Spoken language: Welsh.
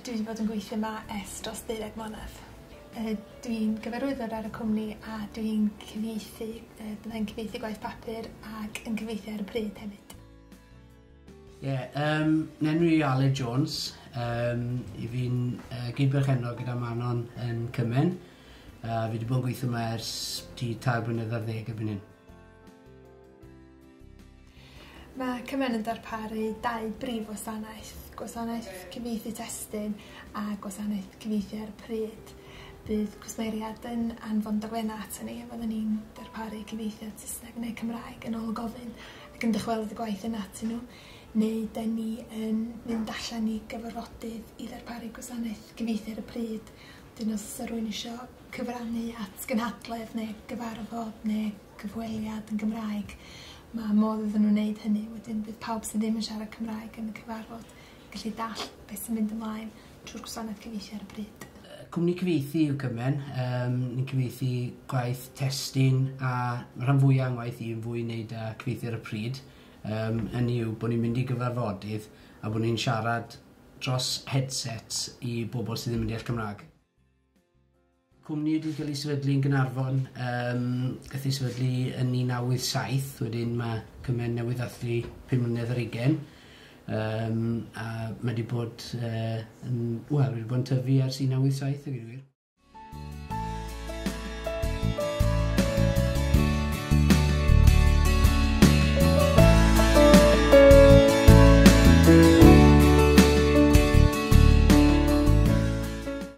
Dwi 'di bod yn gweithio 'ma ers dros deuddeg mlynadd. Yy dwi'n gyfarwyddwr ar y cwmni a dwi'n cyfieithu yy byddai'n cyfieithu gwaith papur ac yn cyfieithu ar y pryd hefyd. Ie yym 'nenw i Aled Jones yym 'yf fi'n yy gyd-berchennog gyda Manon yn Cymen a fi 'di bod yn gweitho 'ma ers tua tair blynedd ar ddeg erbyn hyn. Mae Cymen yn darparu dau brif wasanaeth, gwasanaeth cyfieithu testun a gwasanaeth cyfieithu ar y pryd. Bydd cwsmeriad yn anfon dogfennau aton ni a fyddwn ni'n darparu cyfieithiad Saesneg neu Cymraeg yn ôl gofyn ac yn dychwelyd y gwaith yna atyn nhw, neu 'dyn ni yn mynd allan i gyfarfodydd i ddarparu gwasanaeth gyfieithu ar y pryd. Wedyn os oes 'na rywun isio cyfrannu at gynhadledd neu gyfarfod neu cyfweliad yn Gymraeg ma' modd iddyn n'w neud hynny wedyn bydd pawb sy ddim yn siarad Cymraeg yn y cyfarfod yn gallu dall beth sy'n mynd ymlaen trw'r gwasanaeth cyfieithu ar y pryd. Yy cwmni cyfieithu yw Cymen yym ni'n cyfieithu gwaith testun a ma' rhan fwya o'n ngwaith i yn fwy neud â cyfieithu ar y pryd yym hynny yw bo' ni'n mynd i gyfarfodydd a bo' ni'n siarad dros headsets i bobol sy ddim yn deall Cymra'g. Cwmni wedi cael ei sefydlu yn Gaernarfon, yym gath ei sefydlu yn 1987, wedyn ma' cymen newydd ddathlu pum mlynedd ar ugen, yym a ma' 'di bod yy yn wel wedi bod yn tyfu ers 1987 a gweud y gwir.